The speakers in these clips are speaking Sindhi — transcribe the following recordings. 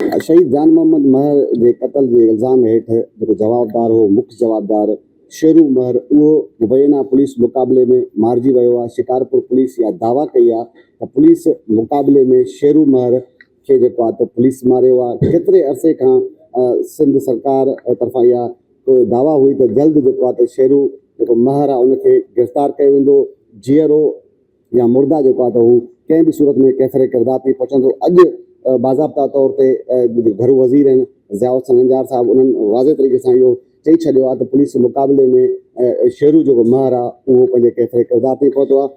شهيد جان محمد مهر جي قتل جي الزام هيٺ جيڪو جوابدار هو مک جوابدار شيرو مهر اهو مبينا پوليس مقابلي ۾ مارجي ويو آهي شڪارپور پوليس اها دعويٰ ڪئي آهي ته پوليس مقابلي ۾ شيرو مهر کي جيڪو آهي ته پوليس ماريو آهي ڪيتري عرصي کان سنڌ سرڪار طرفان اها دعويٰ هئي ته جلد جيڪو آهي ته شيرو جيڪو مهر آهي ان کي گرفتار ڪيو ويندو جيئرو يا مرده جيڪو آهي ته هو ڪنهن به صورت ۾ ڪيفر ڪردار تي پهچندو. اڄ باضابطا طور تي گهرو وزير اين ضياء الحسن لنجار صاحب انهن واضح طريقي سان اهو چئي ڇڏيو آهي ته پوليس مقابلي ۾ شيرو جيڪو مهر آهي اهو پنهنجي ڪيفر ڪردار تي پهتو آهي.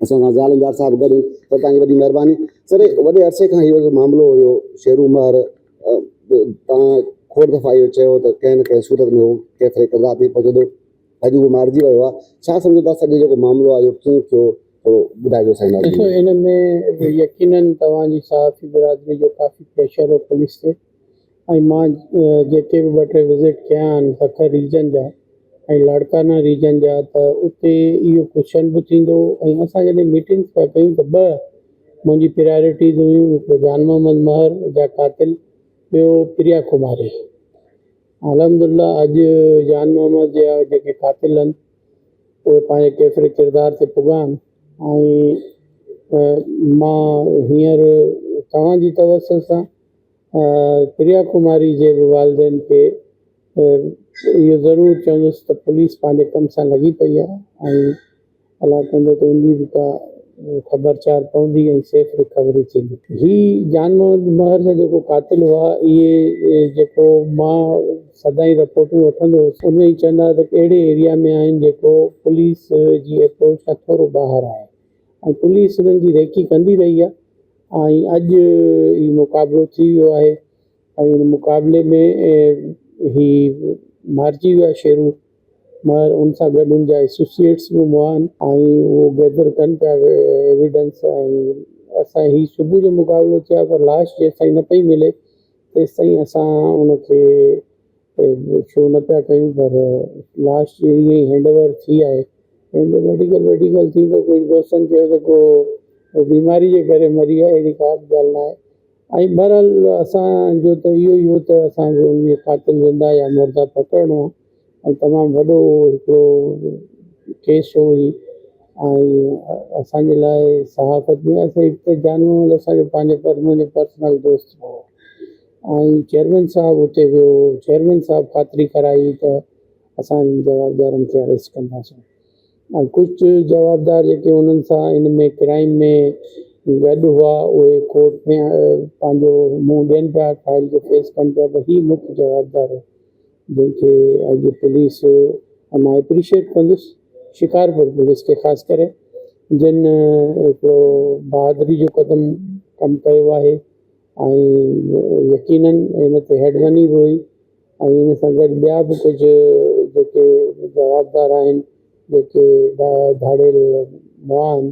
اسان سان ضياء لنجار صاحب گڏ آهن. سر توهان جي وڏي مهرباني. سر وڏي عرصي کان اهو جو معاملو هيو شيرو مهر توهان کوڙ دفعا اهو چيو ته ڪنهن نه ڪنهن صورت ۾ هو ڪيفر ڪردار تي پهچندو. اڄ اهو مارجي ويو آهي ڇا سمجهو ٿا سڄو جيڪو معاملو آهي اهو ڪيئن ٿيو ٿورو ٻڌائجو سائين ناز ڏسو ان ۾ يقينن توهان جي صحافي برادري جو ڪافي پريشر هو پوليس تي ۽ مان جيڪي به ٻه ٽي وزٽ ڪيا آهن سکر ريجن جا ۽ لاڙڪانا ريجن جا ته اتي اهو ڪوشچن به ٿيندو هو ۽ اسان جڏهن ميٽنگس پيا ڪيون ته ٻه منهنجي پريارٽيز هيون هڪڙو جان محمد مهر جا قاتل ٻيو پريا ڪماري الحمدالله اڄ جان محمد جا جيڪي قاتل آهن اهي پنهنجي ڪيفر ڪردار تي پڳا آهن ۽ مان هينئر توهان جي توسل سان پريا ڪماري جي به والدين کي اهو ضرور چوندس ته پوليس پنهنجي ڪم سان لڳي پئي آهي ۽ الله ڪندو ته ان جي به ڪا خبر چار پوندي ۽ سيف رڪوري ٿيندي. هي جان محمد مهر جا جيڪو قاتل هئا اهي جيڪو مان سدائين رپورٽون وٺندو هيس ان ۾ چوندا هئا ته ڪهڙي ايريا ۾ آهن جيڪو پوليس جي ايپروچ کان ٿورو ٻاهر آهي ۽ پوليس انهن جي ريڪي ڪندي رهي آهي ۽ اڄ هي مقابلو ٿي ويو آهي ۽ ان مقابلي ۾ هي مارجي ويا شيرون. مگر ان سان گڏ ان جا ايسوسيئيٽس به مهان آهن ۽ اهو گيدر ڪن پيا ايويڊنس ۽ اسان هي صبح جو مقابلو چيو پر لاش جيستائين نه پئي ملي تيستائين اسان ان کي شو نه پيا ڪيون پر لاش جي ائين هينڊ اوور ٿي آهي ۽ جو ميڊيڪل ويڊيڪل ٿيندو ڪجهه دوستن چيو ته ڪو بيماري جي ڪري مري آهي اهڙي ڪا به ڳالهه نه آهي ۽ بهرحال اسان جو ته اهو ئي هو ته اسان کي ان قاتل زنده يا مرده پڪڙڻو آهي ۽ تمام وڏو هڪڙو ڪيس شو هئي ۽ اسان جي لاء صحافت ۾ اسان جي جان محمد اسان جو پنهنجو پر منهنجو پرسنل دوست هو ۽ چيئرمين صاحب اتي ويو هو چيئرمين صاحب خاطري ڪرائي ته اسان جوابدارن کي اريسٽ ڪنداسون ۽ ڪجهه جوابدار جيڪي انهن سان ان ۾ ڪرائيم ۾ گڏ هئا اهي ڪورٽ ۾ پنهنجو منهن ڏين پيا ٽرائل کي فيس ڪن پيا ته هي مک جوابدار هو جنهن کي اڄ پوليس ۽ مان اپريشيٽ ڪندس شڪارپور پوليس کي خاص ڪري جن هڪڙو بهادري جو قدم ڪم ڪيو آهي ۽ يقينن هن تي هيڊ وني به هئي ۽ ان سان گڏ ٻيا به ڪجهه جيڪي جوابدار آهن جيڪي ڌاڙيل مئا آهن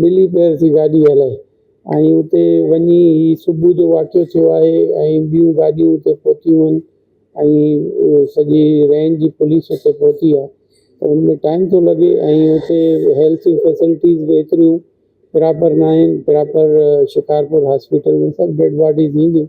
ٻلي پير ٿي گاڏي هلائي ۽ اتي وڃي هي صبح جو واقعو ٿيو آهي ۽ ٻيون گاڏيون اتي پهتيون آهن ۽ سڄي رينج جي پوليس اتي پهتي آهي ته ان ۾ ٽائيم ٿو لڳي ۽ اتي هيلٿ جون فيسلٽيز به ايتريون پراپر ناهن پراپر شڪارپور هاسپيٽل ۾ سڀ ڊيڊ باڊيز اينديون